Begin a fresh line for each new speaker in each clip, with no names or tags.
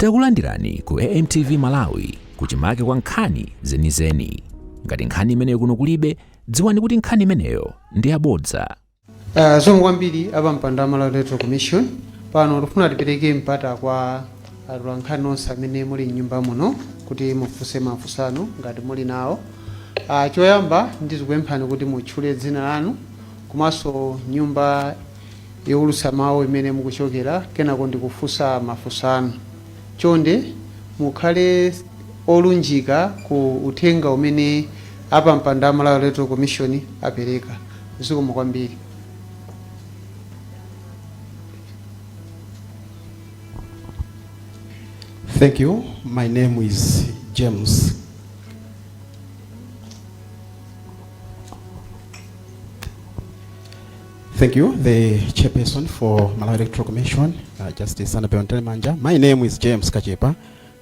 Takulandirani ku AMTV Malawi kuchimake kwa nkhani zenizeni. Ngati nkhani imeneyo kuno kulibe, dziwani kuti nkhani imeneyo ndi yabodza. Uh, zomwe
kwambiri apampando a Malawi Electoral Commission pano tikufuna tipereke mpata kwa atolankhani onse amene muli mnyumba muno kuti mufunse mafunso anu ngati muli nawo. Uh, choyamba ndizikupemphani kuti mutchule dzina lanu komanso nyumba youlutsa mawu imene mukuchokera kenako ndikufunsa mafunso anu. Chonde mukhale olunjika ku uthenga umene apampando a Malawi Electoral Commission apereka. Zikomo kwambiri.
Thank you. My name is James. Thank you, the chairperson for Malawi Electoral Commission, uh, Justice Annabel Mtalimanja. My name is James Kachepa,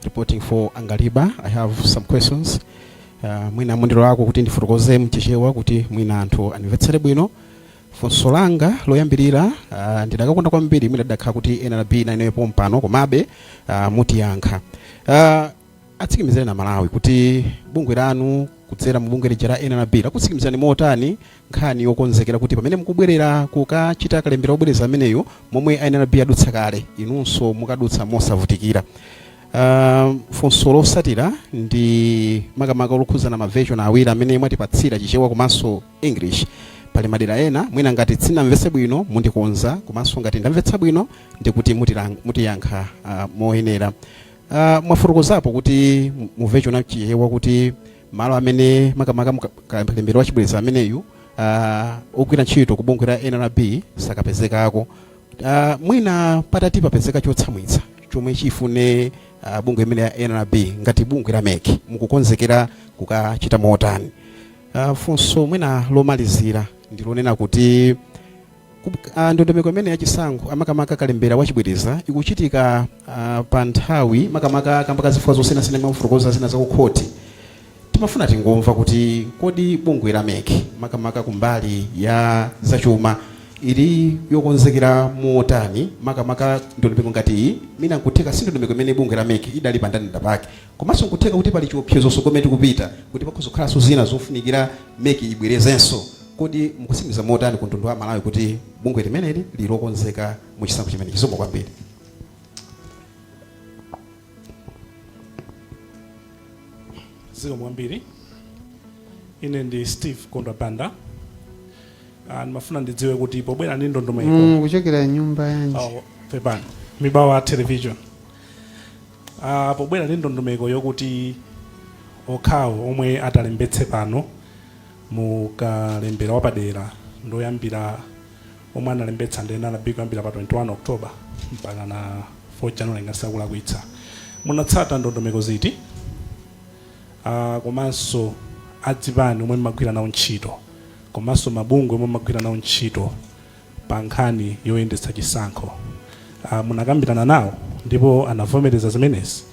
reporting for Angaliba. I have some questions. Uh, mwina mundilolako kuti ndifotokoze mchichewa kuti mwina anthu andimvetsere bwino funso langa loyambirira uh, ndidakakonda kwambiri mwina didakhala kuti nrb nayo ili pompano komabe uh, mutiyankha uh, Atsikimizireni Amalawi kuti bungwe lanu kudzera mu bungwe lija la nrb lakutsikimizirani motani nkhani yokonzekera kuti pamene mukubwerera kukachita kalembera obwereza ameneyo momwe a nrb adutsa kale inunso mukadutsa mosavutikira. Uh, funso lotsatira ndi makamaka lokhuzana ma version awiri amene mwatipatsira a chichewa komanso english pali madera ena mwina ngati sindinamvetse bwino mundikonza komanso ngati ndamvetsa bwino ndikuti mutilang- mutiyankha uh, moyenera Uh, mwafotokozapo kuti mu version ya chichewa kuti malo amene makamaka kalembera wa chibwereza ameneyu uh, ogwira ntchito ku bungwe la nrb sakapezekako uh, mwina patati papezeke chotsamwitsa chomwe chifune uh, bungwe limeneli la nrb ngati bungwe la mec mukukonzekera kukachita motani uh, funso mwina lomalizira ndilonena kuti a Ndondomeko imeneyi ya chisankho a makamaka kalembera wa chibwereza ikuchitika ah, pa nthawi makamaka kamba ka zifukwa zosiyanasiyana mwafotokoza zina za kukhoti timafuna tingomva kuti kodi bungwe la mec makamaka kumbali ya zachuma ili yokonzekera motani makamaka ndondomeko ngati iyi mwina nkutheka si ndondomeko imene bungwe la mec idali pa ndandanda pake komanso nkutheka kuti pali chiopsezo tsogolo tili kupita kuti pakhoza kukhalanso zina zofunikira mec ibwerezenso Kodi mukutsimikiza motani ku mtundu wa Amalawi kuti bungwe limeneli liri lokonzeka mu chisankho chimenechi? Zikomo
kwambiri. Zikomo kwambiri. Ine ndi Steve Kondwa Banda. Ah, ndimafuna ndidziwe kuti pobwera ndi ndondomeko Mm, kuchokera
nyumba yanji Oh,
pepani Mibawa Television uh, pobwera ndi ndondomeko yokuti okhawo omwe atalembetse pano Mu kalembera wapadera ndi oyambira omwe analembetsa ndi nrb kuyambira pa 21 October mpakana 4 January ngati sindikulakwitsa. Munatsata ndondomeko ziti a komanso azipani omwe mmagwira nawo ntchito komanso mabungwe omwe mmagwira nawo ntchito pa nkhani yoyendetsa chisankho a munakambirana nawo ndipo anavomereza zimenezi?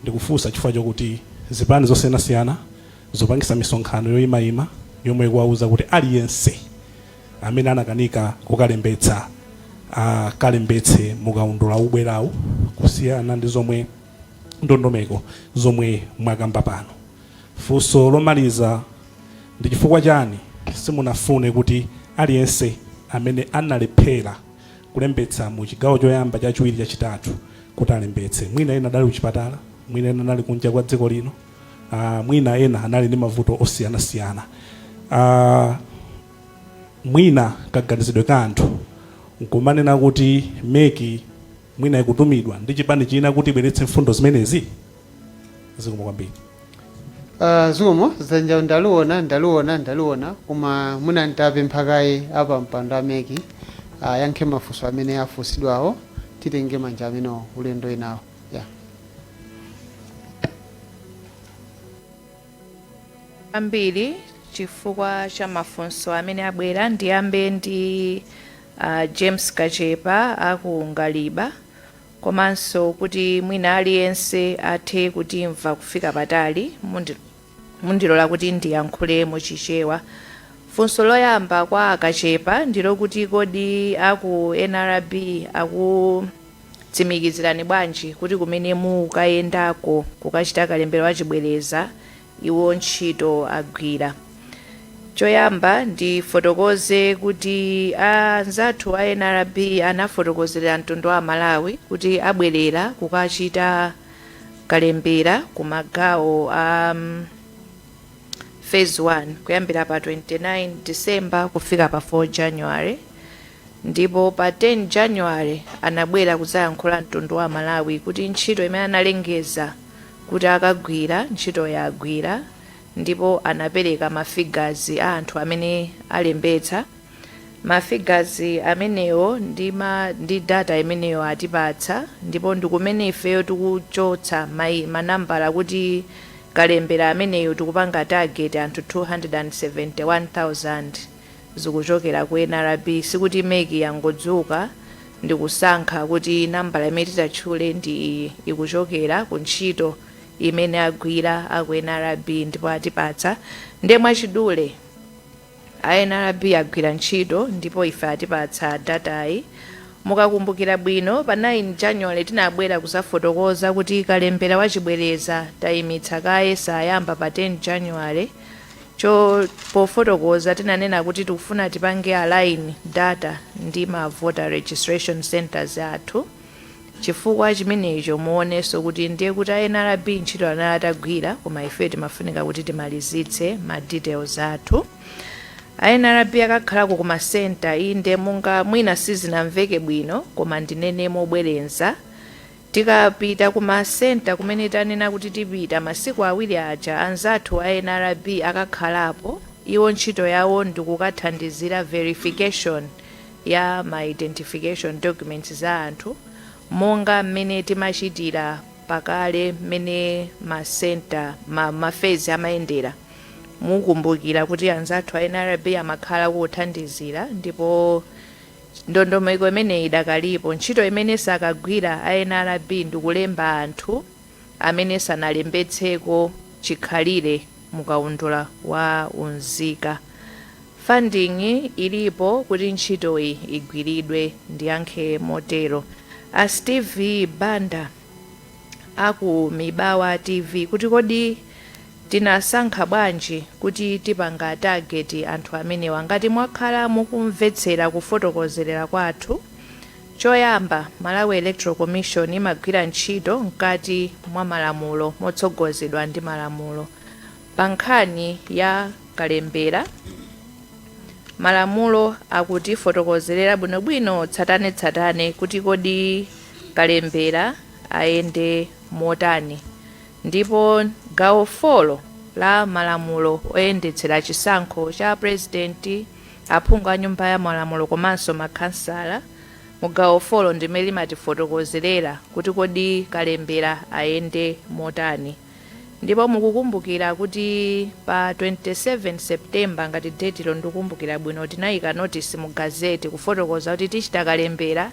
Ndikufunsa chifukwa chokuti zipani zosiyanasiyana zikupangitsa misonkhano yoyimayima yomwe ikuwauza kuti aliyense amene anakanika kukalembetsa akalembetse mukaundula ubwerawu kusiyana ndi zomwe ndondomeko zomwe mwakamba pano funso lomaliza ndi chifukwa chani simunafune kuti aliyense amene analephera kulembetsa mu chigawo choyamba chachiwiri chachitatu kuti alembetse mwina ena adali kuchipatala mwina ena anali kunja kwa dziko lino uh, mwina ena anali ndi mavuto osiyanasiyana uh, mwina kaganizidwe ka anthu nkumanena kuti MEC mwina ikutumidwa ndi chipani china kuti ibweretse mfundo zimenezi zikomo kwambiri
Uh, zikomo dzanjalo ndaliona ndaliona ndaliona koma mwina nditapempha kaye apampando a MEC ayankhe mafunso amene afunsidwawo titenge manja amene ulendo winawo yeah.
kwambiri chifukwa cha mafunso amene abwera ndiyambe ndi uh, James Kachepa aku Angaliba komanso kuti mwina aliyense athe kutimva kufika patali mundi Mundilola kuti ndiyankhule mu Chichewa. Funso loyamba kwa a Kachepa ndilokuti kodi aku nrb akutsimikizirani bwanji kuti kumene mukukayendako kukachita kalembera wa chibwereza iwo ntchito agwira? Choyamba ndifotokoze kuti anzathu a nrb anafotokozera mtundu wa Amalawi kuti abwerera kukachita kalembera ku magawo a um, phase 1 kuyambira pa 29 december kufika pa 4 january ndipo pa 10 january anabwera kudzayankhula mtundu wa malawi kuti ntchito imene analengeza kuti akagwira ntchito yagwira ndipo anapereka mafigazi a anthu amene alembetsa Ma figures amenewo ndi ma ndi data imeneyo atipatsa ndipo ndikumene ifeyo tikuchotsa mai ma nambala kuti kalembera ameneyu tikupanga target anthu 271,000 zikuchokera ku nrb sikuti mec yangodzuka ndikusankha kuti nambala imene titatchule ndi iyi ikuchokera ku ntchito imene agwira aku nrb ndipo atipatsa nde mwachidule A nrb agwira ntchito ndipo ife atipatsa datayi. Mukakumbukira bwino pa 9 January tinabwera kuzafotokoza kuti kalembera wa chibwereza taimitsa kaye sayamba pa 10 January. Pofotokoza tinanena kuti tikufuna tipange align data ndi ma voter registration centres athu. Chifukwa chimenecho muoneso kuti ndiye kuti a nrb ntchito anali atagwira koma ifeyo timafunika kuti timalizitse ma details athu. A nrb akakhalako ku ma centre inde monga mwina sizinamveke bwino koma ndinene mobwereza tikapita ku ma centre kumene tanena kuti tipita masiku awiri aja anzathu a nrb akakhalapo iwo ntchito yawo ndikukathandizira verification ya ma identification documents za anthu monga mmene timachitira pakale mmene ma center ma, ma phase amayendera mukumbukira kuti anzathu a nrb amakhala kuthandizira ndipo ndondomeko imeneyi idakalipo ntchito imene sakagwira a nrb ndikulemba anthu amene sanalembetseko chikhalire mu kaundula wa unzika. Funding ilipo kuti ntchitoyi igwiridwe, ndiyankhe motero. A Steve Banda a ku Mibawa TV kuti kodi tinasankha bwanji kuti tipanga target anthu amenewa? Ngati mwakhala mukumvetsera kufotokozerera kwathu, Choyamba, Malawi Electoral Commission imagwira ntchito mkati mwa malamulo motsogozedwa ndi malamulo. Pa nkhani ya kalembera, malamulo akutifotokozerera bwinobwino tsatanetsatane kuti kodi kalembera ayende motani ndipo gawo 4 la malamulo oyendetsera chisankho cha pulezidenti, aphungu a nyumba ya malamulo komanso ma khansala mu gawo 4 ndimene limatifotokozerera kuti kodi kalembera ayende motani ndipo mukukumbukira kuti pa 27 September ngati date ilo ndikukumbukira bwino tinayika notice mu gazette kufotokoza kuti tichita kalembera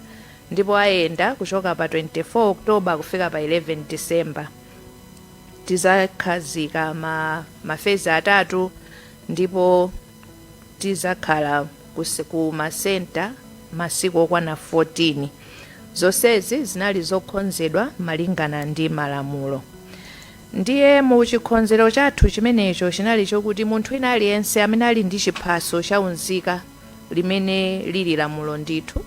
ndipo ayenda kuchoka pa 24 October kufika pa 11 December tizakhazika mafezi atatu ndipo Tizakhala ku masenta masiku okwana 14. Zonsezi zinali zokhonzedwa malingana ndi malamulo. Ndiye mu chikhonzero chathu chimenecho chinali chokuti munthu wina aliyense amene ali ndi chiphaso cha unzika limene liri lamulo ndithu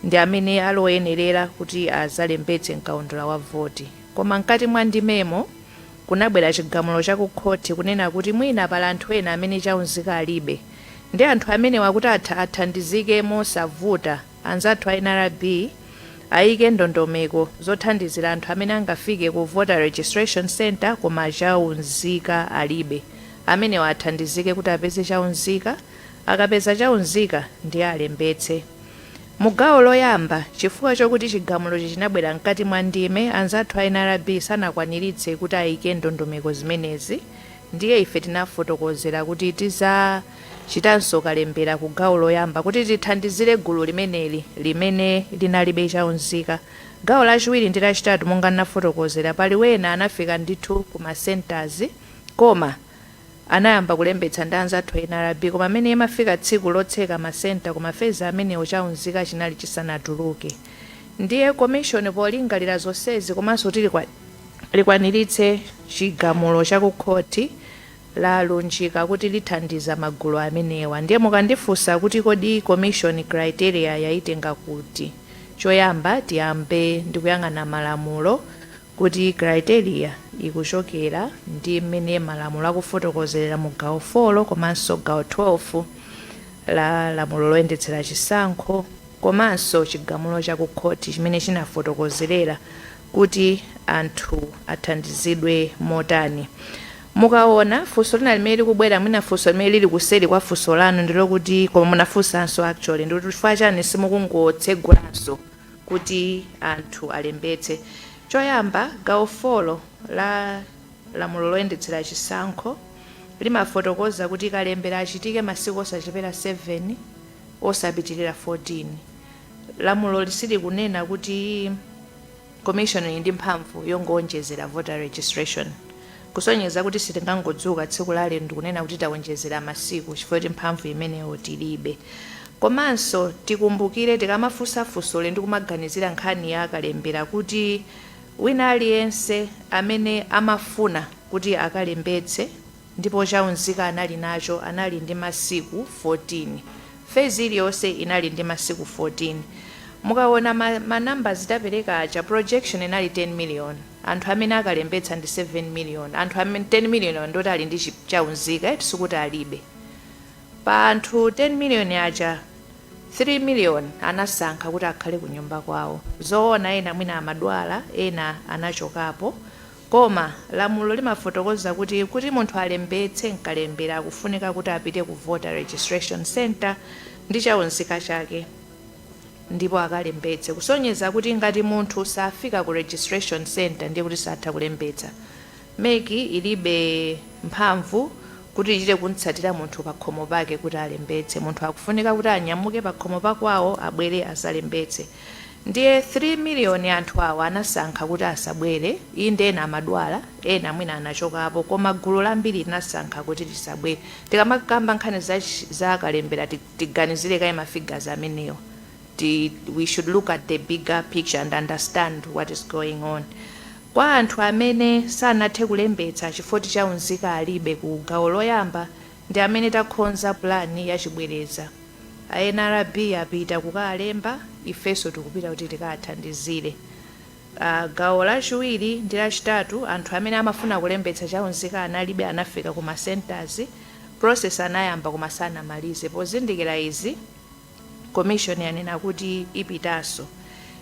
ndi amene ali oyenerera kuti azalembetse mkaundula wa voti. Koma mkati mwa ndimemo. kunabwera chigamulo cha ku khoti kunena kuti mwina pali anthu ena amene cha unzika alibe nde anthu amenewa kuti athandizike mosavuta anzathu a nrb aike ndondomeko zothandizira anthu amene angafike ku Voter Registration Centre koma cha unzika alibe amenewa athandizike kuti apeze cha unzika akapeza cha unzika ndiye alembetse Mu gawo loyamba, chifukwa chokuti chigamulochi chinabwera mkati mwa ndime, anzathu a nrb sanakwaniritse kuti ayike ndondomeko zimenezi ndiye ife tinafotokozera kuti tizachitanso kalembera ku gawo loyamba kuti tithandizire gulu limeneli limene linalibe cha unzika. Gawo lachiwiri ndi lachitatu monga nafotokozera, pali wena anafika ndithu ku ma centres koma. Anayamba kulembetsa ndi anzathu a nrb koma mene imafika tsiku lotseka ma centre koma ma phase amenewo cha unzika chinali chisanatuluke ndiye commission polingalira zonsezi komanso kuti likwaniritse chigamulo cha ku khothi lalunjika kuti lithandiza magulu amenewa ndiye mukandifunsa kuti kodi commission criteria yaitenga kuti? Choyamba tiyambe ndikuyang'ana malamulo. kuti criteria ikuchokera ndi mmene malamulo akufotokozerera mu gawo 4 komanso gawo 12 la lamulo loyendetsera chisankho komanso chigamulo cha ku khoti chimene chinafotokozerera kuti anthu athandizidwe motani. Mukaona funso lina limene likubwera mwina funso limene lili kuseri kwa funso lanu ndilokuti koma munafunsanso actually ndikuti chifukwa chani simukungotsegulanso kuti anthu alembetse choyamba gawo 4 la Lamulo loyendetsera chisankho limafotokoza kuti kalembera achitike masiku osachepera 7 osapitilira 14. Lamuloli silikunena kuti Commission ili ndi mphamvu yongoonjezera Voter Registration. Kusonyeza kuti sitingangodzuka tsiku la lero ndikunena kuti tawonjezera masiku chifukwa choti mphamvu imeneyo tilibe. Komanso tikumbukire tikamafunsa funsoli ndi kumaganizira nkhani ya kalembera kuti wina aliyense amene amafuna kuti akalembetse ndipo cha unzika anali nacho anali ndi masiku 14. Fezi iliyonse inali ndi masiku 14. Mukawona ma numbers tapereka aja projection inali 10 million. anthu amene akalembetsa ndi 7 million, anthu amene 10 million ndi oti ali ndi chi, cha unzika sikuti alibe. Pa anthu 10 million aja 3 million anasankha kuti akhale ku nyumba kwawo. Zoona ena mwina amadwala, ena anachokapo koma lamulo limafotokoza kuti, kuti munthu alembetse m'kalembera akufunika kuti apite ku voter registration centre ndi cha unzika chake. ndipo akalembetse kusonyeza kuti ngati munthu safika ku registration centre ndiye kuti satha kulembetsa. Mec ilibe mphamvu kuti ichite kumtsatira munthu pakhomo pake kuti alembetse. Munthu akufunika kuti anyamuke pakhomo pa kwawo abwere azalembetse. Ndiye 3 million anthu awa anasankha kuti asabwere, inde ena amadwala, ena mwina anachokapo koma gulu lambiri linasankha kuti lisabwere. Tikamakamba nkhani za kalembera ti. tiganizire kaye ma figures amenewo, we should look at the bigger picture and understand what is going on. Kwa anthu amene sanathe kulembetsa chifoti cha unzika alibe ku gawo loyamba ndi amene takhonza plan ya chibwereza, a nrb apita kukalemba ifenso tikupita kuti tikathandizire. A gawo lachiwiri ndi lachitatu anthu amene amafuna kulembetsa cha unzika analibe anafika ku ma centres, process anayamba koma sanamalize. Pozindikira izi, Commission yanena kuti ipitanso.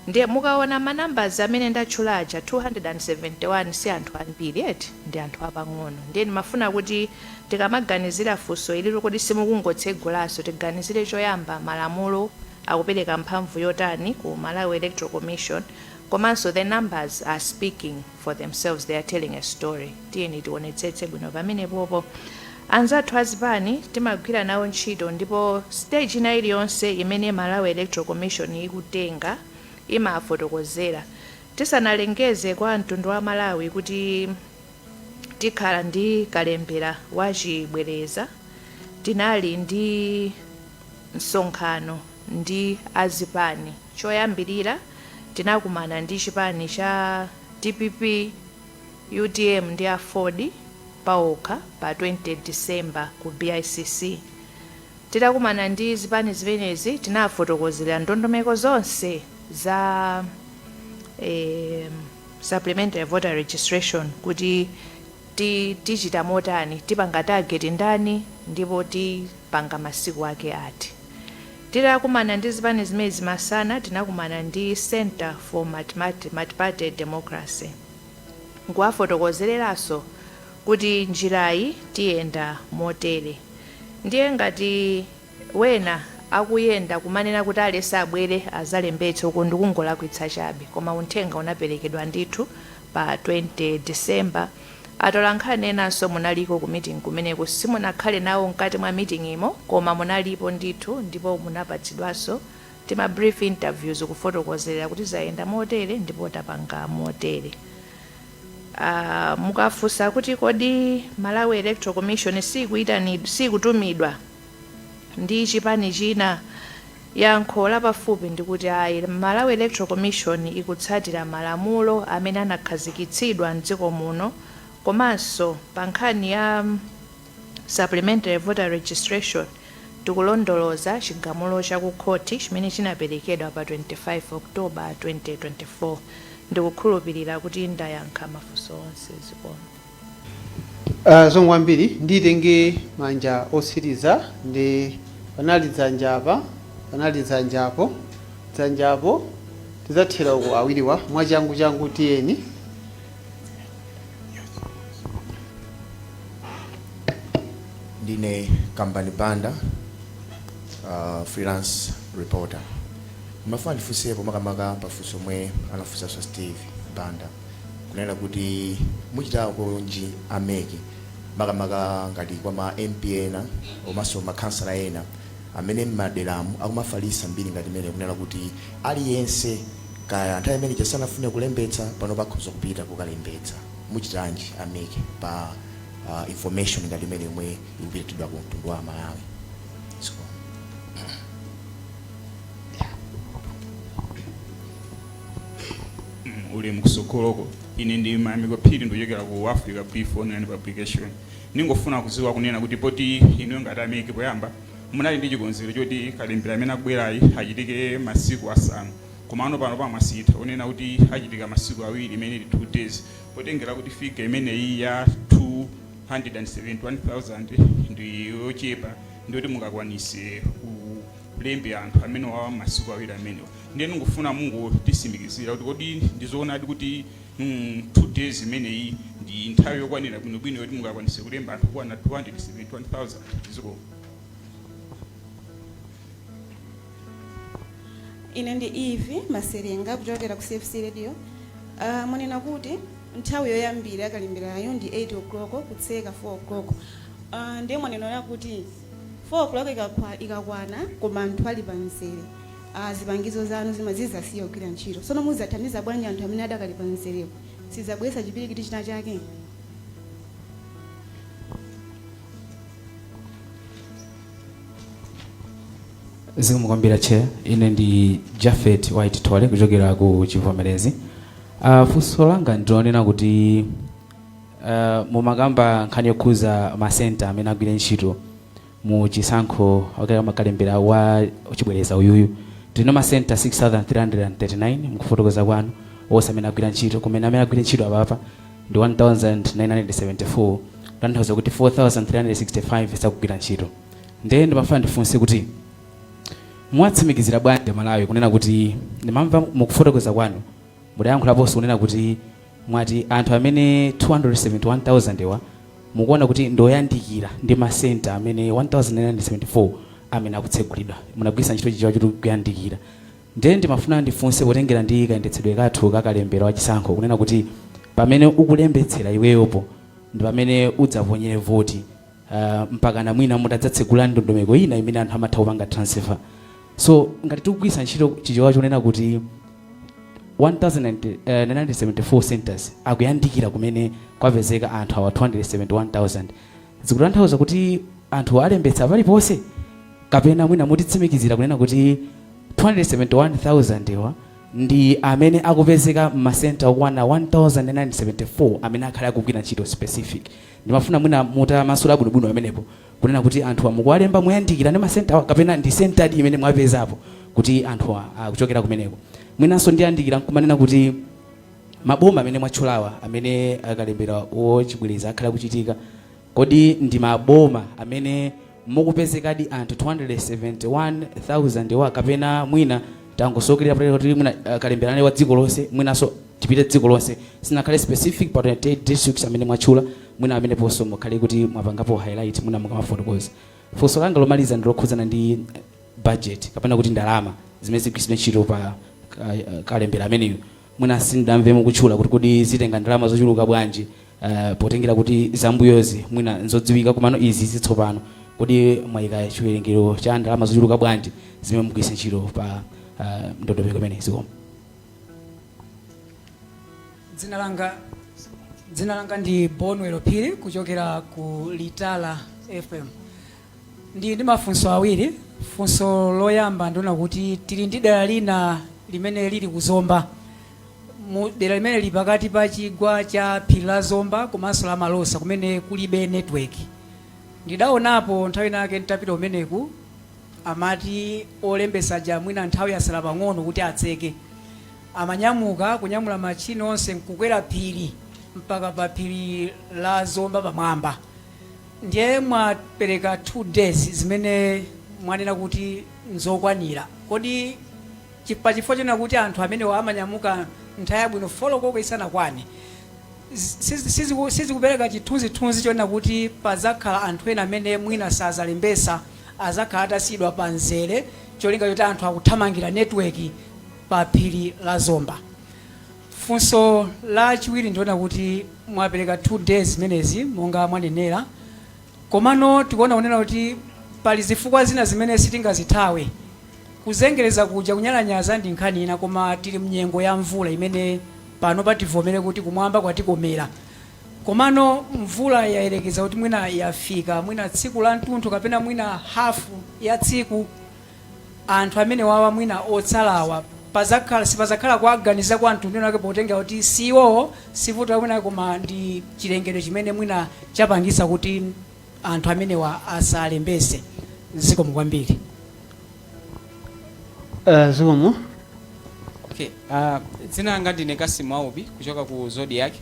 Ndiye mukaona ma numbers amene ndatchula aja 271 si anthu ambiri eti? Ndi anthu apang'ono. Ndiye ndimafuna kuti tikamaganizira funso ili loti kodi simukungotsegulanso, tiganizire choyamba malamulo akupereka mphamvu yotani ku Malawi Electoral Commission komanso the numbers are speaking. for themselves they are telling a story tiyeni tionetsetse bwino pamenepopo anzathu azipani timagwira nawo ntchito ndipo stage ina iliyonse imene malawi electoral commission ikutenga imafotokozera tisanalengeze kwa mtundu wa amalawi kuti tikhala ndi kalembera wachibwereza tinali ndi msonkhano ndi a zipani. Choyambirira tinakumana ndi chipani cha dpp, utm ndi Aford paokha pa 20 December ku BICC. Titakumana ndi zipani zimenezi tinawafotokozera ndondomeko zonse za eem Supplementary Voter Registration kuti ti tichita motani, tipanga target ndani ndipo ti. panga masiku ake ati. Titakumana ndi zipani zimenezi masana tinakumana ndi Centre for Multiparty Democracy n'kuwafotokozereranso kuti njirayi tiyenda motere ndiye ngati wena akuyenda kumanena kuti aliyense abwere adzalembetse uku ndikungolakwitsa chabe koma unthenga unaperekedwa ndithu pa 20 December Atolankhani enanso munaliko ku meeting kumeneko simunakhale nawo mkati mwa meeting mo koma munalipo ndithu ndipo munapatsidwanso tima brief interviews kufotokozera kuti zayenda motere ndipo tapanga motere. Aaa mukafunsa kuti kodi Malawi Electoral Commission siikuitanid sikutumidwa? ndi chipani china? Yankho lapafupi ndikuti ayi. Malawi Electoral Commission ikutsatira malamulo amene anakhazikitsidwa m'dziko muno komanso pa nkhani ya Supplementary Voter Registration tikulondoloza chigamulo cha ku khoti chimene chinaperekedwa pa 25 October 2024. Ndikukhulupirira kuti ndayankha mafunso onse. Zikomo.
Uh, zikomo kwambiri nditenge manja otsiriza ndi panali dzanja apa panali dzanja apo dzanja apo tidzathera uko awiriwa mwachangu changu tiyeni
ndine kambani banda uh, freelance reporter mmafuna ndifunseko makamaka pafunso lomwe anafunsanso steve banda kunena kuti muchitakonji a mec makamaka ngati kwa ma mp ena komanso makhansala ena amene m'maderamu akumafalisa mbiri ngati imene kunena kuti aliyense kaya nthawi imene ija sanafune kulembetsa pano akhoza kupita kukalembetsa muchitanji a mec pa ah, information ngati imene yomwe ikupititsidwa ku mtundu wa malawi so,
mm, ulemu kutsogoloko ine ndi mayamiko phiri ndikuchokera ku africa brief online publication ndingofuna kuziwa kunena kuti poti inu ngati a MEC poyamba munali ndi chikonzero choti kalembera amene akubwerayi achitike masiku asanu koma ano pano pamasintha kunena kuti achitika masiku awiri imene ili 2 days potengera kuti figa imeneyi ya 271,000 ndi yochepa ndiyoti mungakwanise lembe anthu amenewawa masiku awiri amenewo ndiye ndingofuna mungotitsimikizira kuti kodi ndizoonadi kuti mm, two days imeneyi ndi nthawi yokwanira bwinobwino yoti mungakwanise kulemba anthu okwana 271000
zikomo ine ndi eve maselenga kuchokera ku cfc radio uh, mwanena kuti nthawi yoyambira ya kalemberayo ndi 8 o'clock kutseka 4 o'clock uh, ndiye mwanena kuti 4:00 ikakwa ikakwana koma anthu ali pa mzere a zipangizo zanu zima zizasiya kugwira ntchito tsono muzathandiza bwanji anthu amene adakali pa mzerewo sizabweretsa chipwirikiti china chake
zikomo kwambiri chair ine ndi japhet white thole kuchokera ku chibvomerezi uh, funso langa ndilonena kuti Uh, mumakamba nkhani yokhuza masenta amene agwire ntchito mu chisankho okera makalembera wa chibwereza uyuyu tili ndi masenta 6339 mkufotokoza kwanu onse amene agwira ntchito kumene amene agwira ntchito apapa ndi 1974 kutanthauza kuti 4365 sakugwira ntchito ndiye ndimafuna ndifunse kuti mwawatsimikizira bwanji amalawi kunena kuti ndimamva mukufotokoza kwanu mudayankhulaponso kunena kuti Mwati anthu amene 271,000 wa mukuona kuti ndioyandikira ndi masenta amene 1974 amene akutsegulidwa munagwiritsa ntchito chichewa choti kuyandikira ndiye ndimafuna ndifunse potengera ndi kayendetsedwe kathu ka kalembera wa chisankho kunena kuti pamene ukulembetsera iweyopo ndi pamene udzaponyere voti uh, mpakana mwina mutadzatsegula ndondomeko ina imene anthu amatha kupanga transfer so ngati tikugwiritsa ntchito chichewa chonena kuti 1974 eh, centers akuyandikira kumene kwapezeka anthu awa 271000 zikutanthauza kuti anthu alembetsa paliponse kapena mwina mutitsimikizire kunena kuti 271000 wa ndi amene akupezeka m'masenta okwana 1974 amene akhale akugwira ntchito specific Ndimafuna mwina mutamasulira bwinobwino pamenepo kunena kuti anthuwa mukuwalemba moyandikira ndi masentawa kapena ndi senta iti imene mwapezapo kuti anthuwa akuchokera kumeneko. Mwinanso ndiwonjezere n'kumanena kuti maboma amene mwatchulawa amene ah, kalembera wachibwereza akhale akuchitika, kodi ndi maboma amene mukupezekadi anthu 271,000 wo kapena mwina tangosokelera patali kuti mwina uh, kalemberane wa dziko lonse mwinanso tipite dziko lonse sinakhale specific pa 28 districts amene mwatchula mwina amenewonso mukhale kuti mwapangapo highlight mwina mukamafotokoza funso langa lomaliza ndilokhudzana ndi eh, budget kapena kuti ndalama zimene zigwiritsidwe ntchito pa uh, kalembera ameneyo Mwina sindinamve mukutchula kuti kodi zitenga ndalama zochuluka bwanji potengera kuti zambuyozi mwina nzodziwika komano izi zitsopano kodi mwayika chiwerengero cha ndalama zochuluka bwanji zimene mugwiritsa ntchito pa ndondomeko imeneyi zikomo.
Dzina langa dzina langa ndi Bonwell Phiri kuchokera ku Litala FM Ndili ndi mafunso awiri. Funso loyamba ndi lonena kuti tili ndi dera lina limene lili ku Zomba mu dera limene lili pakati pa chigwa cha phiri la Zomba komanso la Malosa kumene kulibe network. Ndidaonapo nthawi ina yake nditapita kumeneku amati olembetsa aja mwina nthawi yatsala pang'ono kuti atseke, amanyamuka kunyamula machini onse nkukwera phiri mpaka pa phiri la Zomba pamwamba. Ndiye mwapereka 2 days zimene mwanena kuti nzokwanira. Kodi chi pa chifukwa chonena kuti anthu amenewa amanyamuka nthawi yabwino 4 koloko isanakwane, zi si siziku sizikupereka chithunzithunzi chonena kuti padzakhala anthu ena amene mwina sadzalembetsa, adzakhala atasiyidwa pa mzere cholinga choti anthu akuthamangira network pa phiri la Zomba? Funso la chiwiri ndi lonena kuti mwapereka 2 days zimenezi monga mwanenera komano tikuona kunena kuti pali zifukwa zina zimene sitingazithawe. Kuzengereza kuja, kunyalanyaza ndi nkhani ina koma tili mnyengo ya mvula imene panopa tivomere kuti kumwamba kwatikomera komano mvula yayerekeza kuti mwina yafika mwina tsiku la mtunthu kapena mwina hafu ya tsiku. anthu amenewawa mwina otsalawa padzakhala sipadzakhala kuwaganizira kwa mtundu wina wake potengera kuti si iwowo si vuto la kwina kwake koma ndi chilengedwe chimene mwina chapangitsa kuti anthu amenewa asalembetse zikomo kwambiri
Eh,
zikomo Okay. Uh, dzina langa ndine Kasimu Aubi kuchoka ku Zodiak.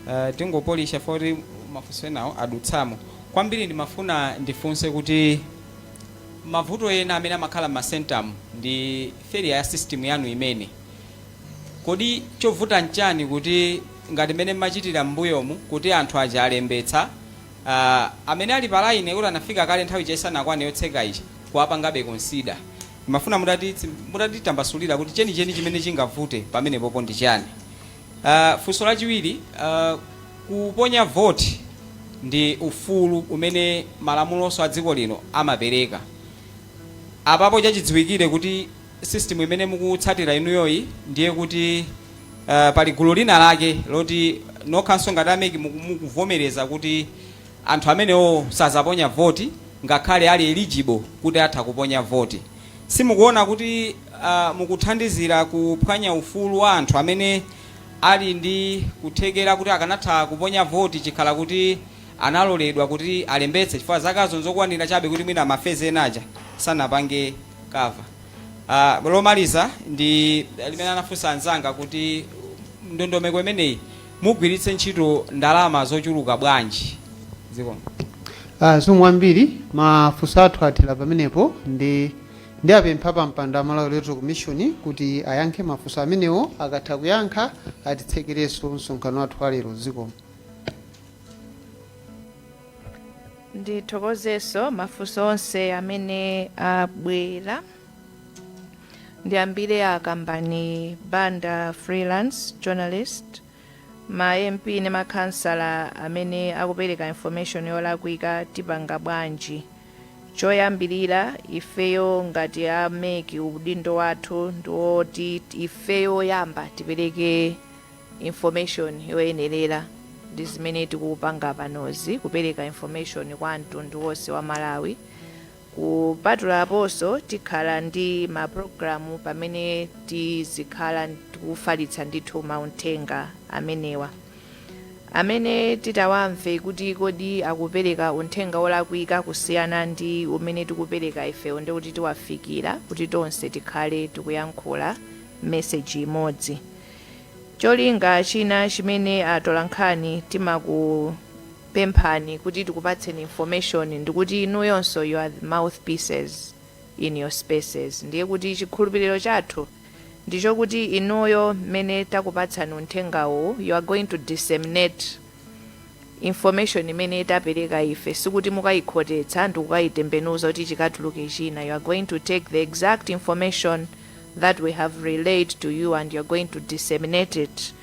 Uh, tingopolisha poti mafunso enawo adutsamo. Kwambiri ndimafuna ndifunse kuti Mavuto ena amene amakhala mma centermu ndi failure ya system yanu yomwe. Kodi chovuta nchani kuti ngati mmene mmachitira mmbuyomu kuti anthu aja alembetsa aah amene ali pa line kuti anafika kale nthawi ija isanakwane yotseka ija kuwapangabe consider. Ndimafuna mutati mutatitambasulira kuti chenicheni chimene chingavute pamenepopo ndi chani. Uh, funso lachiwiri uh, kuponya vote ndi ufulu umene malamulonso a dziko lino amapereka apapo chachidziwikire kuti system imene mukutsatira inuyoyi ndiye kuti uh, pali gulu lina lake loti nokhanso ngati a MEC muku- mukuvomereza kuti anthu amenewo sazaponya voti ngakhale ali eligible kuti atha kuponya voti simukuona kuti mukuthandizira kuphwanya ufulu wa anthu amene ali ndi kuthekera kuti akanatha kuponya voti chikhala kuti analoledwa kuti alembetse chifukwa zakazo nzokwanira chabe kuti mwina ma phase ena aja sanapange cover. Lomaliza ndi limene anafunsa anzanga kuti ndondomeko imeneyi mugwiritse ntchito ndalama zochuluka bwanji? Zikomo. Zikomo
kwambiri, mafunso athu athera pamenepo. Nde apempha apampando a Malawi Electoral Commission kuti ayankhe mafunso amenewo akatha kuyankha atitsekerenso msonkhano wathu wa lero zikomo.
ndithokozenso mafunso onse amene abwera ndiyambire a Kambani Banda freelance journalist Ma MP ndi ma khansala amene akupereka information yolakwika tipanga bwanji? Choyambilira ifeyo ngati a mec udindo wathu ndiwoti ifeyo oyamba tipereke information yoyenerera ndi zimene tikupanga panozi kupereka information kwa mtundu wonse wa Malawi. Kupatula aponso, tikhala ndi ma pulogalamu pamene tizikhala tikufalitsa ndithu maunthenga amenewa. Amene titawamve kuti kodi akupereka unthenga wolakwika kusiyana ndi umene tikupereka ifeyo ndiye kuti tiwafikira kuti tonse tikhale tikuyankhula message imodzi. Cholinga china chimene atolankhani timaku. pemphani kuti tikupatseni information ndikuti inuyonso you are the mouthpieces in your spaces ndiye kuti chikhulupiliro chathu ndichokuti inuyo mmene takupatsani unthenga uwu you are going to disseminate information imene tapeleka ife sikuti mukayikhotetsa ndikukayitembenuza kuti chikatuluke china you are going to take the exact information that we have relayed to you and you are going to disseminate it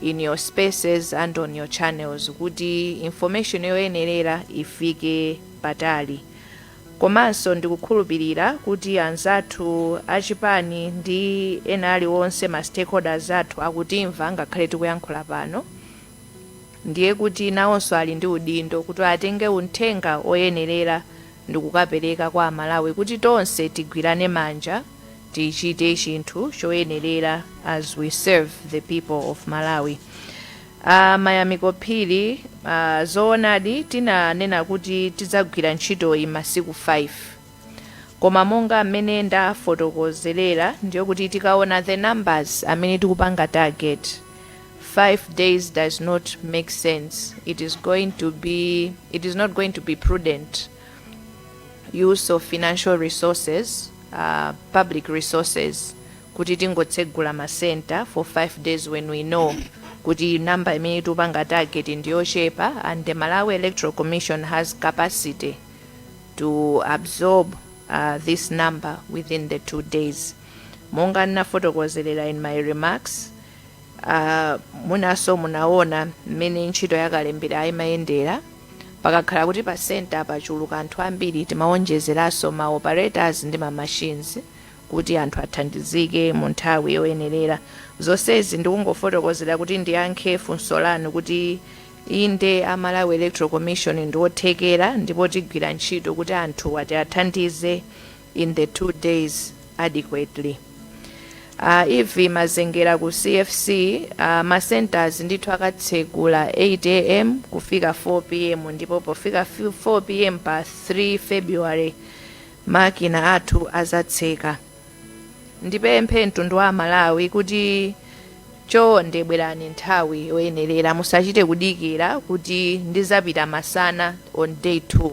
in your spaces and on your channels kuti information yoyenerera ifike patali komanso ndikukhulupirira kuti anzathu achipani ndi ena aliwonse ma stakeholders athu akutimva ngakhale tikuyankhula pano ndiye kuti nawonso ali ndi udindo kuti atenge uthenga oyenerera ndikukapereka kwa amalawi kuti tonse tigwirane manja tichite chinthu choyenerera as we serve the people of malawi a mayamiko phiri, zoonadi tinanena kuti tidzagwira ntchitoyi masiku 5 koma monga mmene ndafotokozerera ndiyo kuti tikaona the numbers amene tikupanga target 5 days does not make sense it is going to be it is not going to be prudent use of financial resources uh, public resources kuti tingotsegula ma center for five days when we know kuti number imene tupanga target ndiyochepa and the malawi electoral commission has capacity to absorb uh, this number within the two days monga ndinafotokozerera in my remarks Ah, mwinanso munaona mmene ntchito yakalembera imayendera pakakhala kuti pa senta pachuluka anthu ambiri timawonjezeranso ma operators ndi ma machines kuti anthu athandizike mu nthawi yoyenerera zonsezi ndikungofotokozera kuti ndiyankhe funso lanu kuti inde a malawi electoral commission ndi othekera ndipo tigwira ntchito kuti anthu awathandize in the two days adequately uh, ivy mazengera ku cfc uh, macenters ndithu akatsegula 8 am kufika 4 pm ndipo pofika fi- 4 pm pa 3 february makina athu azatseka ndipemphe mtundu wa malawi kuti chonde bwerani nthawi yoyenerera musachite kudikira kuti ndizapita masana on day 2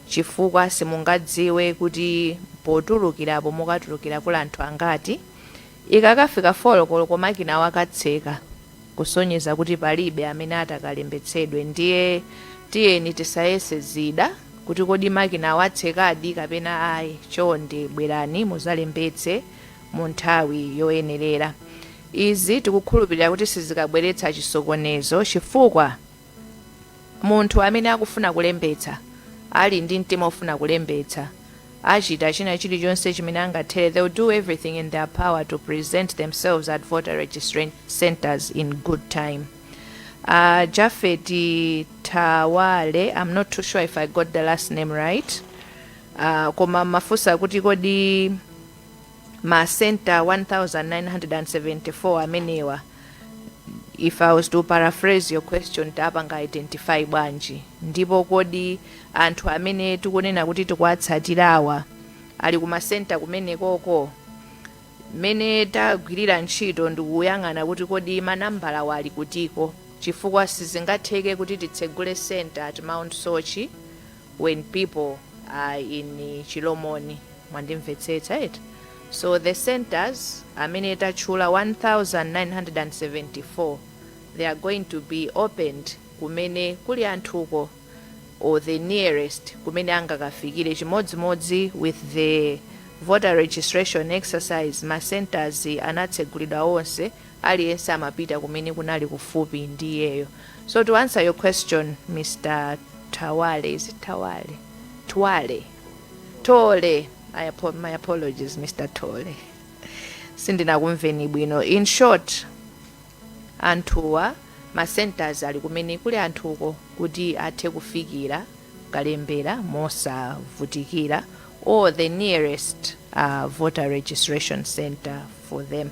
Chifukwa simungadziwe kuti potulukirapo mukatulukira kuli anthu angati. Ikakafika 4 koloko makinawo akatseka, kusonyeza kuti palibe amene atakalembetsedwe. Ndiye tiyeni tisayese zida kuti kodi makinawo atsekadi kapena ayi. Chonde bwerani muzalembetse mu nthawi yoyenerera. Izi tikukhulupirira kuti sizikabweretsa chisokonezo chifukwa Munthu amene akufuna kulembetsa, ali ndi mtima ofuna kulembetsa, achita china chilichonse chimene angathere, they will do everything in their power to present themselves at voter registration centres in good time. A Japhet Thawale, am not too sure if I got the last name right, uh, koma mmafunsa kuti kodi ma center 1974 amenewa if i was to paraphrase your question tapanga identify bwanji ndipo kodi anthu amene tikunena kuti tikuwatsatirawa ali kumasenta kumenekoko mmene tagwirira ntchito ndikuyang'ana kuti kodi manambalawa ali kutiko chifukwa sizingatheke kuti titsegule center at mount soche when people are in chilomoni mwandimvetsetsa eti so the centres amene tatchula 1974 they are going to be opened kumene kuli anthuko or the nearest kumene angakafikire chimodzimodzi with the voter registration exercise ma centres anatsegulidwa onse aliyense amapita kumene kunali kufupi ndi iyeyo so to answer your question Mr Tawale is it Tawale Twale Tole I apo my apologies Mr Tole sindinakumveni bwino in short anthuwa ma centers ali kumene kuli anthuko kuti athe kufikira kalembera mosavutikira or the nearest uh, voter registration center for them.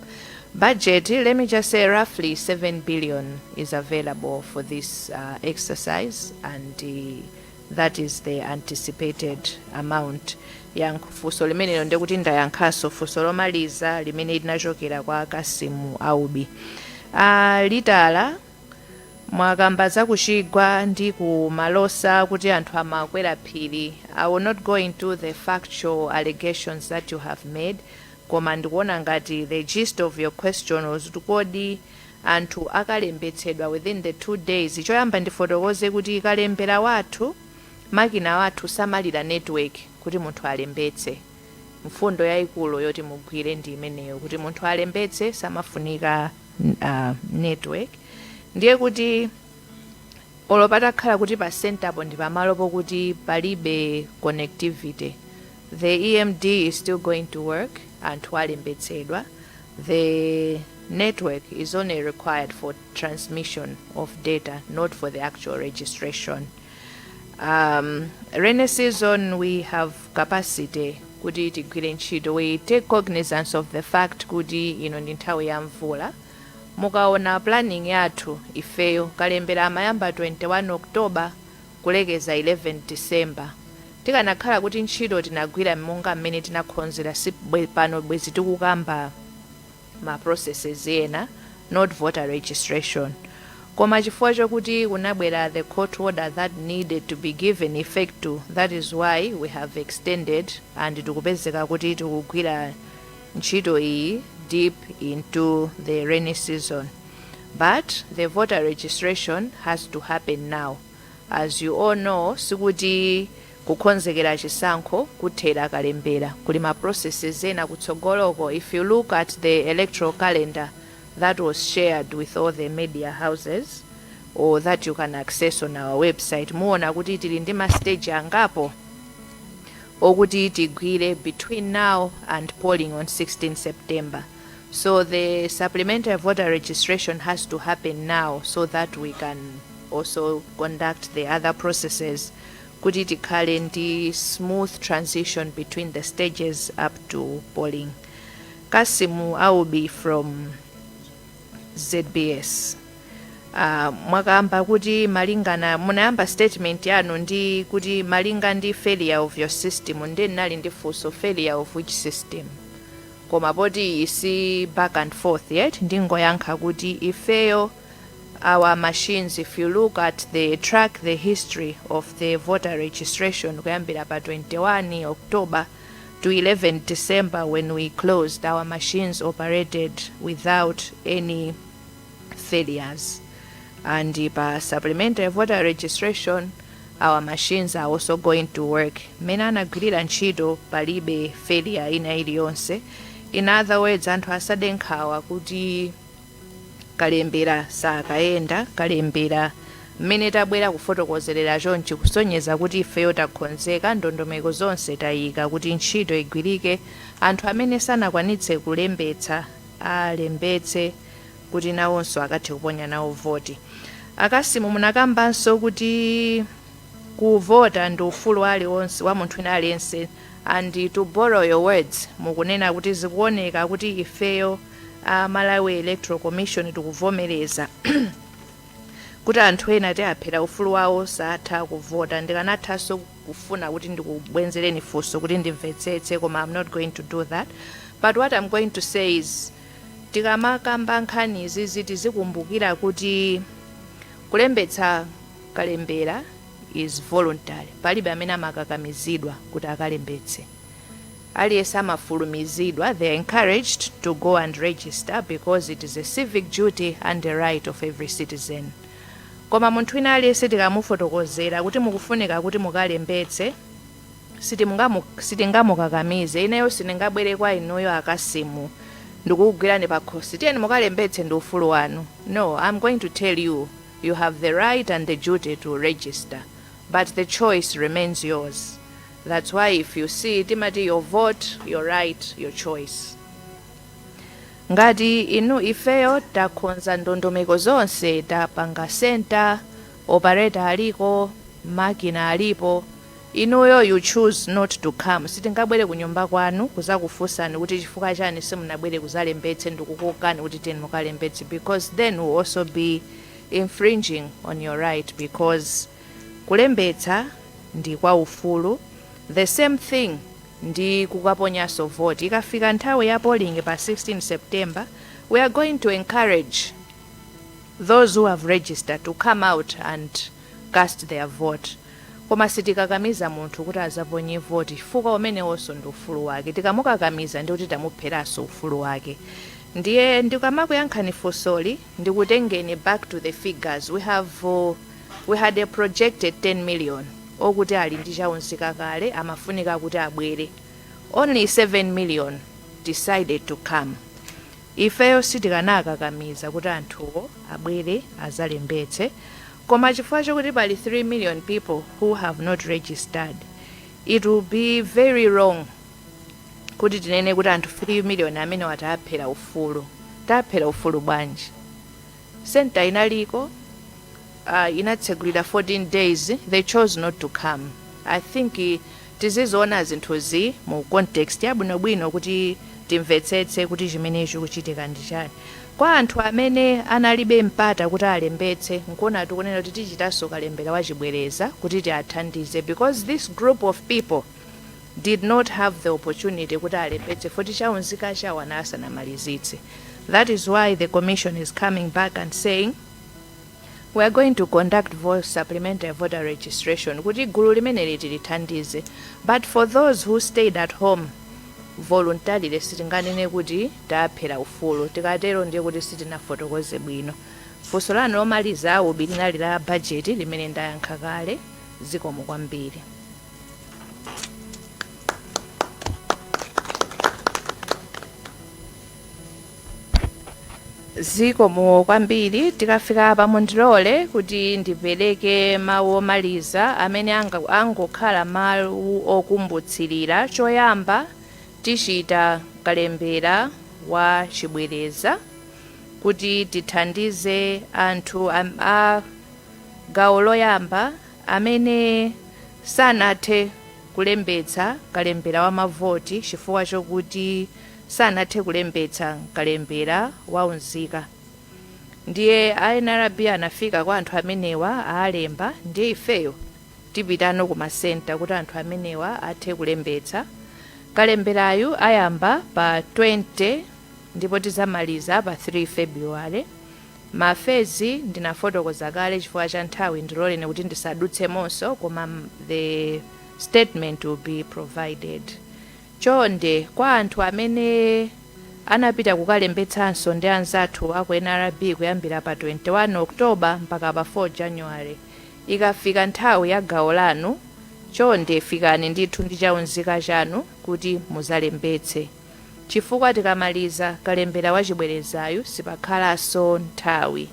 Budget, let me just say roughly 7 billion is available for this uh, exercise and uh, that is the anticipated amount ndayankha funso limenelo nde kuti ndayankhanso funso lomaliza limene linachokera kwa kasimu aubi uh, Litala Mwakamba za ku chigwa ndi ku Malosa kuti anthu amakwera phiri, I will not go into the factual allegations that you have made koma ndikuona ngati the gist of your question was kuti kodi anthu akalembetsedwa within the two days, choyamba ndifotokoze kuti kalembera wathu makina athu samalira network kuti munthu alembetse. Mfundo yaikulu yoti mugwire ndi imeneyo kuti munthu alembetse samafunika. uh, network ndiye kuti olo patakhala kuti pa centerpo ndi pamalo pokuti palibe connectivity the emd is still going to work anthu alembetsedwa the network is only required for transmission of data not for the actual registration um, rainy season we have capacity kuti tigwire ntchito. We take cognizance of the fact kuti ino ndi nthawi ya mvula. Mukaona planning yathu ifeyo, kalembera amayamba 21 October kulekeza 11 December. Tikanakhala kuti ntchito tinagwira monga mmene tinakhonzera sibw pano bwezi tikukamba. ma processes ena not voter registration koma chifukwa chokuti kunabwera the court order that needed to be given effect to that is why we have extended and tikupezeka kuti tikugwira ntchito iyi deep into the rainy season but the voter registration has to happen now as you all know sikuti Kukonzekera chisankho kuthera kalembera. Kuli ma processes ena kutsogoloko if you look at the electoral calendar that was shared with all the media houses or that you can access on our website muona kuti tili ndi ma stage angapo okuti tigwire between now and polling on 16 September. So the supplementary voter registration has to happen now so that we can also conduct the other processes kuti tikhale ndi smooth transition between the stages up to polling. Kasimu Aubi from ZBS. Uh, mwakamba kuti malinga munayamba statement yanu ndi kuti malinga ndi failure of your system ndinali ndi funso failure of which system koma poti isi back and forth yet ndingoyankha kuti ifeyo our machines if you look at the track the history of the voter registration kuyambira pa 21 october to 11 december when we closed our machines operated without any failures and uh, pa supplementary voter registration our machines are also going to work mmene anagwirira ntchito palibe failure ina iliyonse in other words anthu asade nkhawa kuti kalembera sakayenda kalembera mmene tabwera kufotokozerera chonchi kusonyeza kuti ifeyo takhonzeka ndondomeko zonse tayika kuti ntchito igwirike anthu amene sanakwanitse kulembetsa alembetse kuti nawonso akathe kuponya nawo voti akasimu munakambanso kuti kuvota ndi ufulu aliwonse wa munthu wina aliyense and to borrow your words mukunena kuti zikuoneka kuti ifeyo a Malawi Electoral Commission tikuvomereza kuti anthu ena tiaphera ufulu wawo satha kuvota. Ndikanathanso kufuna kuti ndikubwenzereni funso kuti ndimvetsetse koma I'm not going to do that but what I'm going to say is tikamakamba nkhani izizi tizikumbukira kuti kulembetsa kalembera is voluntary palibe amene amakakamizidwa kuti akalembetse Aliyense amafulumizidwa, they are encouraged to go and register because it is a civic duty and a right of every citizen. Koma munthu wina aliyense tikamufotokozera kuti mukufunika kuti mukalembetse, sitingamukakamize. Ineyo sindingabwere kwa inuyo a Kasimu ndikukugwirani pakhosi, tiyeni mukalembetse ndi ufulu wanu. No, I'm going to tell you, you have the right and the duty to register, but the choice remains yours. That's why if you see timati your vote, your right, your choice. Ngati inu ifeyo takhonza ndondomeko zonse tapanga center, operator aliko, makina alipo, inuyo you choose not to come. Sitingabwere kunyumba kwanu kuzakufunsani kuti chifukwa chani simunabwere kuzalembetse ndikukokani kuti tiyeni mukalembetse because then we'll also be infringing on your right because Kulembetsa ndi kwa ufulu the same thing ndi kukaponyanso vote. Ikafika nthawi ya polling pa 16 September we are going to encourage those who have registered to come out and cast their vote. Koma sitikakamiza munthu kuti azaponye vote chifukwa umenewonso ndi ufulu wake. Tikamukakamiza ndiye kuti tamupheranso ufulu wake. Ndiye ndikamakuyankhani funsoli ndikutengeni back to the figures. We have. We had a projected 10 million okuti ali ndi cha unzika kale amafunika kuti abwere, only 7 million decided to come. Ifeyo sitikanakakamiza kuti anthuwo abwere azalembetse koma chifukwa chokuti pali 3 million people who have not registered, it will be very wrong kuti tinene kuti anthu 3 million amenewa taaphera ufulu. Taaphera ufulu bwanji? Centre inaliko uh, inatsegulira 14 days they chose not to come i think tiziziona zinthuzi mu context yabwinobwino kuti timvetsetse kuti chimene chikuchitika ndi chani kwa anthu amene analibe mpata kuti alembetse nkuona tikunena kuti tichitanso kalembera wachibwereza kuti tiwathandize because this group of people did not have the opportunity kuti alembetse voti chaunzika chawo ana asanamalizitse that is why the commission is coming back and saying we are going to conduct vote supplementary voter registration kuti gulu limeneli tilithandize but for those who stayed at home voluntarily sitinganene kuti taphera ufulu tikatero ndiye kuti sitinafotokoze bwino funso lanu lomaliza UB linali la bajeti limene ndayankha kale zikomo kwambiri zikomo kwambiri tikafika apa mundilole kuti ndipereke mawu omaliza amene anga- angokhala mawu okumbutsirira choyamba tichita kalembera wa chibwereza kuti tithandize anthu am- a gawo loyamba amene sanathe kulembetsa kalembera wa mavoti chifukwa chokuti sanathe kulembetsa mkalembera wa unzika ndiye a nrb anafika kwa anthu amenewa awalemba ndiye ifeyo tipitano ku ma centre kuti anthu amenewa athe kulembetsa kalemberayu ayamba pa 20 ndipo tizamaliza pa 3 february Ma phase ndinafotokoza kale chifukwa cha nthawi ndiloleni kuti ndisadutsemonso koma the statement will be provided. Chonde kwa anthu amene anapita kukalembetsanso ndi anzathu aku nrb kuyambira pa 21 October mpaka pa 4 January, ikafika nthawi ya gawo lanu chonde fikani ndithu ndi chaunzika chanu kuti muzalembetse. chifukwa tikamaliza kalembera wa chibwerezayu sipakhalanso nthawi.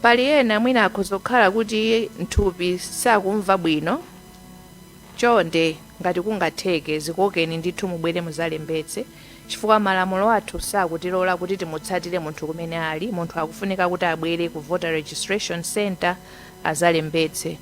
Pali ena mwina akhoza kukhala kuti nthupi sakumva bwino, chonde ngati kungatheke zikokeni ndithu mubwere muzalembetse chifukwa malamulo athu sakutilola kuti timutsatire munthu kumene ali, munthu akufunika kuti abwere ku Voter Registration Centre azalembetse.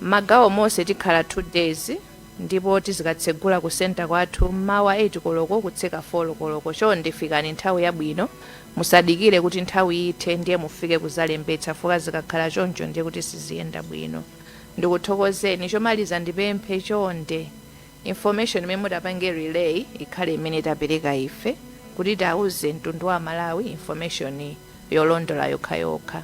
Mmagawo monse tikhala 2 days. ndipo tizikatsegula ku centre kwathu mmawa 8 koloko kutseka 4 koloko chonde fikani nthawi yabwino musadikire kuti nthawi ithe ndiye mufike kuzalembetsa chifukwa zikakhala choncho ndiye kuti siziyenda bwino ndikuthokozeni chomaliza ndipemphe chonde information imene mutapange relay ikhale imene tapereka ife kuti tiuze mtundu wa aMalawi information yolondola yokhayokha.